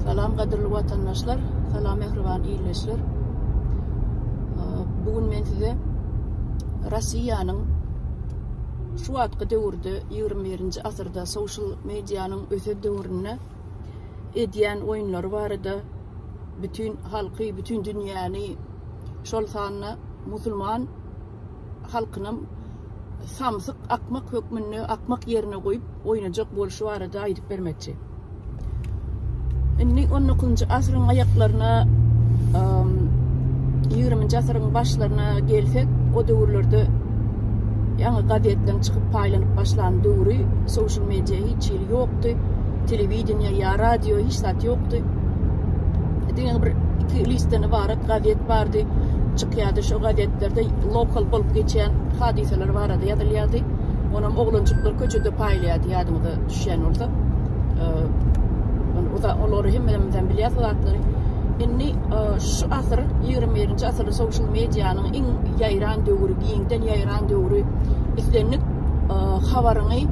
Salam gadyrly watandaşlar, salam mähriban ildeşler. Bu gün men size Russiýanyň şu wagtky döwürde 21-nji asyrda social medianyň öse döwründe edýän oýunlary barada bütün halky, bütün dünýäni, şol sanda musulman halkynam samsyk akmak hökmünde akmak ýerine goýup oýnajak bolşy barada aýdyp bermekçi. Indi 19-njy asyryň aýaklaryna 20-nji asyryň başlaryna gelsek, o döwürlerde ýaňy gazetden çykyp paýlanyp başlan döwri, social media hiç hili ýokdy, telewideniýe ýa radio hiç zat ýokdy. Diňe bir iki listden ybarat gazet bardy. Käte şu gazetlerde lokal bolup geçýän hadysalar barada ýazylýardy. Onam oglanjyklar köçede paýlaýardy, ýadyňyza düşýän bolsa. Ee, olary hemmelemizden bilýär zatlary. Indi e, şu asyr, 21-nji asyrda social medianyň iň ýaýran döwri, giňden ýaýran döwri islendik e, habaryňy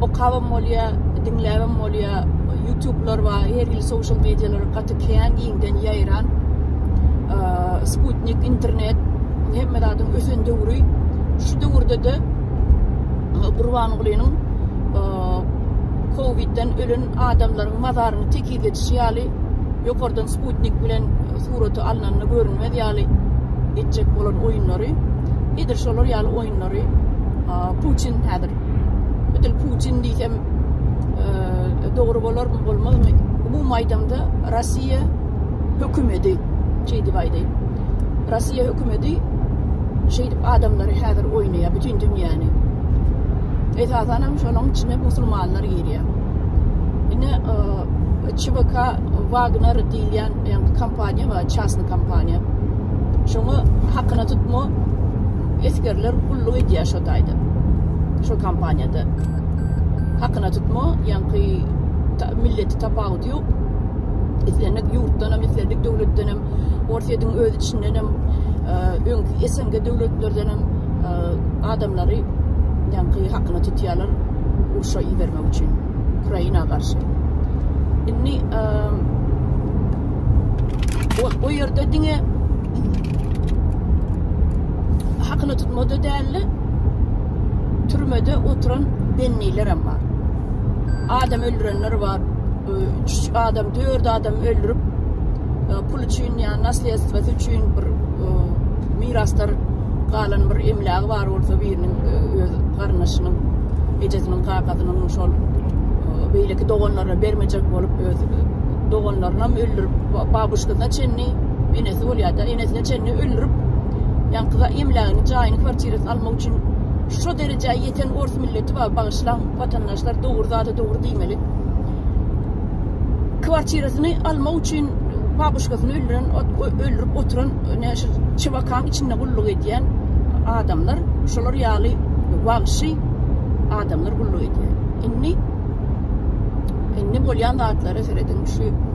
okabam bolýar, diňläbem bolýar. YouTube'lar bar, her hili social medialara Internetde kän giňden ýaýran sputnik internet hemme zadyň ösen döwri. Şu döwürde-de Gurbangulynyň Covid-den ölen adamlaryň mazaryny tekiz edişi ýaly ýokardan sputnik bilen suraty alnanda görünmez ýaly etjek bolan oýunlary edil şolar ýaly oýunlary Putin häzir edil Putin diýsem dogry bolarmy bolmazmy umumy aýdymda Rossiýa hökümedi şeýdip aýdaýyn. Rossiýa hökümedi şeýdip adamlary häzir oýnaýar bütün dünýäni. Esasan hem şonuň içine musulmanlar girýär. Ine ÇVK Wagner diýilýän ýa-da kompaniýa we çasny kompaniýa. Şoňa hakyna tutma esgerler gulluk edýär şo taýda. Şo kompaniýada. hakyna tutma ýaňky milleti tapawudy ýok islendik ýurtdan hem islendik döwletden hem orsýetiň öz içinden hem e, öňki snk döwletlerden hem e, adamlary ýaňky hakyna tutýarlar urşa ibermek üçin ukraina garşy indi e, o ýerde diňe hakyna tutmada däldi Türmede oturan bennilerem bar. Adam öldürenler bar. E, üç adam, dört adam öldürüp e, pul üçin yani nasliyetwesi üçin bir e, miraslar galan bir emlagi bar olsa birinin öz garnaşynyň ejesiniň kakasynyň şol beýleki doganlaryna bermejek bolup öz doganlaryny hem öldürip babuşkasyna çenli enesi bolýar da enesine çenli öldürip ýaňkyda emlagini jaýyny kwartirasyny Ýatmak üçin şo derejä ýeten ors milleti bar bagyşlaň watandaşlar dogry zada dogry diýmeli. Kwartirasyny almak üçin babuşkasyny öldüren öldürip oturan ne şu çybakaň içinde gulluk edýän adamlar şolar ýaly wagşy adamlar gulluk edýär. Indi indi bolýan zatlara serediň şu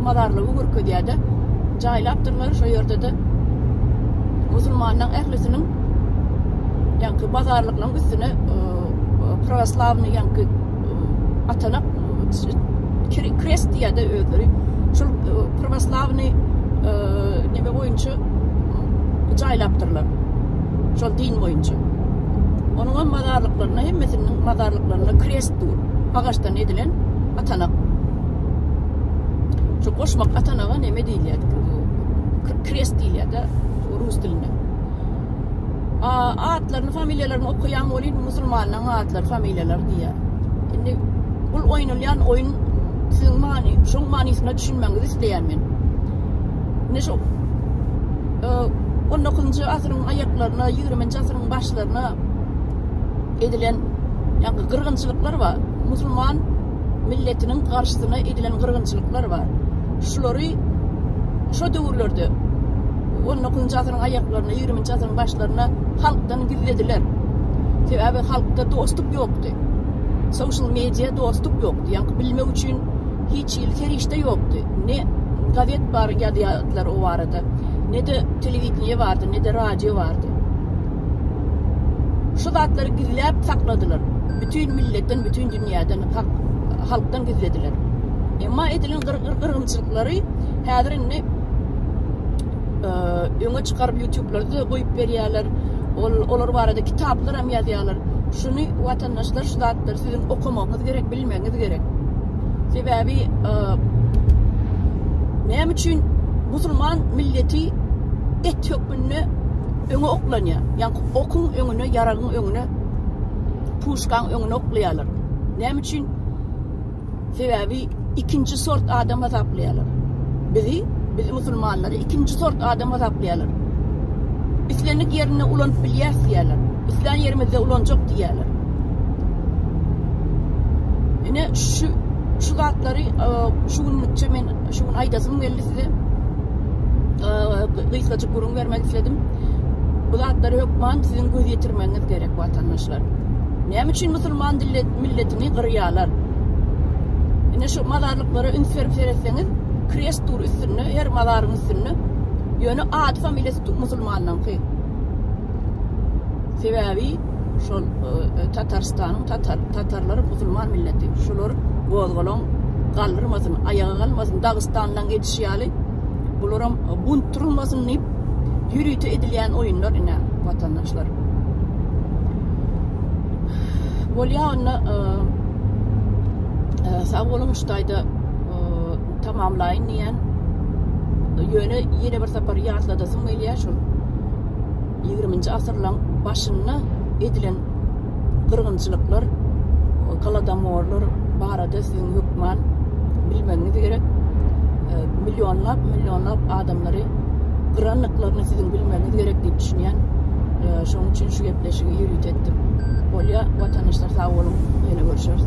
Madarlygy görkezýärde jaýlap durlar şo ýerdede musulmanlaryň ählisiniň ýaňky bazarlyklaryň üstüne pravoslawny ýaňky atanak krest diýýärde özleri şol pravoslawny nebe boýunça jaýlapdyrlar şol din boýunça onuň hem mazarlyklaryna hemmesiniň mazarlyklaryna krest dur agaçdan edilen atanak Şu goşmak atanaga neme diýilýär? Krest diýilýär-de rus dilinde. Atlaryny, familiýalaryny okaýan bolýan musulmanlaryň atlary, familiýalary diýýär. Indi bul oýnalýan oýun siziň many, şoň manysyna düşünmäňizi isleýän men. Indi şu 19-njy e, asyryň aýaklaryna, 20-nji asyryň başlaryna edilen ýa-da gyrgynçylyklar bar. Musulman milletiniň garşysyna edilen gyrgynçylyklar bar. Şulary şo döwürlerde on dokuzynjy asyryň aýaklaryna, ýigriminji asyryň başlaryna halkdan gizlediler. Sebäbi halkda dostluk ýokdy. Social media dostluk ýokdy. Ýaňky bilmek üçin hiç hili serişde ýokdy. Ne gazet bar ýazýardylar o barada, ne-de telewideniýe bardy, ne-de radio bardy. Şu zatlary gizläp sakladylar. Bütin milletden, bütin dünýäden, hak, halkdan gizlediler. Emma edilen gyrgyrymçylyklary häzir indi e, öňe çykaryp YouTube-larda goýup berýärler. Ol olar barada kitaplar hem ýazýarlar. Şuny watandaşlar şu zatlary siziň okamagyňyz gerek, bilmegiňiz gerek. Sebäbi e, näme üçin musulman milleti et hökmünde öňe oklanýar. Ýa okuň öňüne, ýaragyň öňüne puşkaň öňüne oklaýarlar. Näme üçin? Sebäbi ikinji sort adam hasaplaýarlar. Bizi, biz musulmanlary ikinji sort adam hasaplaýarlar. Islendik ýerinde ulanyp bilýäs diýýärler. Islän ýerimizde ulanjak diýýärler. Ine şu şu zatlary e, şu günlükçe men şu gün aýdasym geldi size. E, Gysgajyk gürrüň bermek isledim. Bu zatlary hökman siziň göz ýetirmegiňiz gerek. Watandaşlar näme üçin musulman dillet milletini gyrýarlar? Ine şu mazarlyklara üns berip seretseňiz, krest dur üstünde, her mazaryň üstünde. Ýöne ady familiýasy tu- musulmanyňky. Sebäbi şol e, Tatarstanyň tatar tatarlary musulman milleti. Şular gozgalaň galdyrmasyn, aýaga galmasyn. Dagystandan geçişi ýaly bularam bunt durulmasyn diýip ýörite edilýän oýunlar ine watandaşlar. Bolýa onda e, e, sag boluň şu taýda e, tamamlaýyn diýen ýöne ýene bir sapar ýatladasym gelýär şol Ýigriminji asyrlaň başynda edilen gyrgynçylyklar, golodomorlar barada siziň hökman bilmegiňiz gerek. Millionlap, millionlap adamlary gyrandyklaryny siziň bilmegiňiz gerek diýip düşünýän. Şonuň üçin şu gepleşigi ýörite etdim. Bolýa, watanyşlar sag boluň, ýene görüşeris.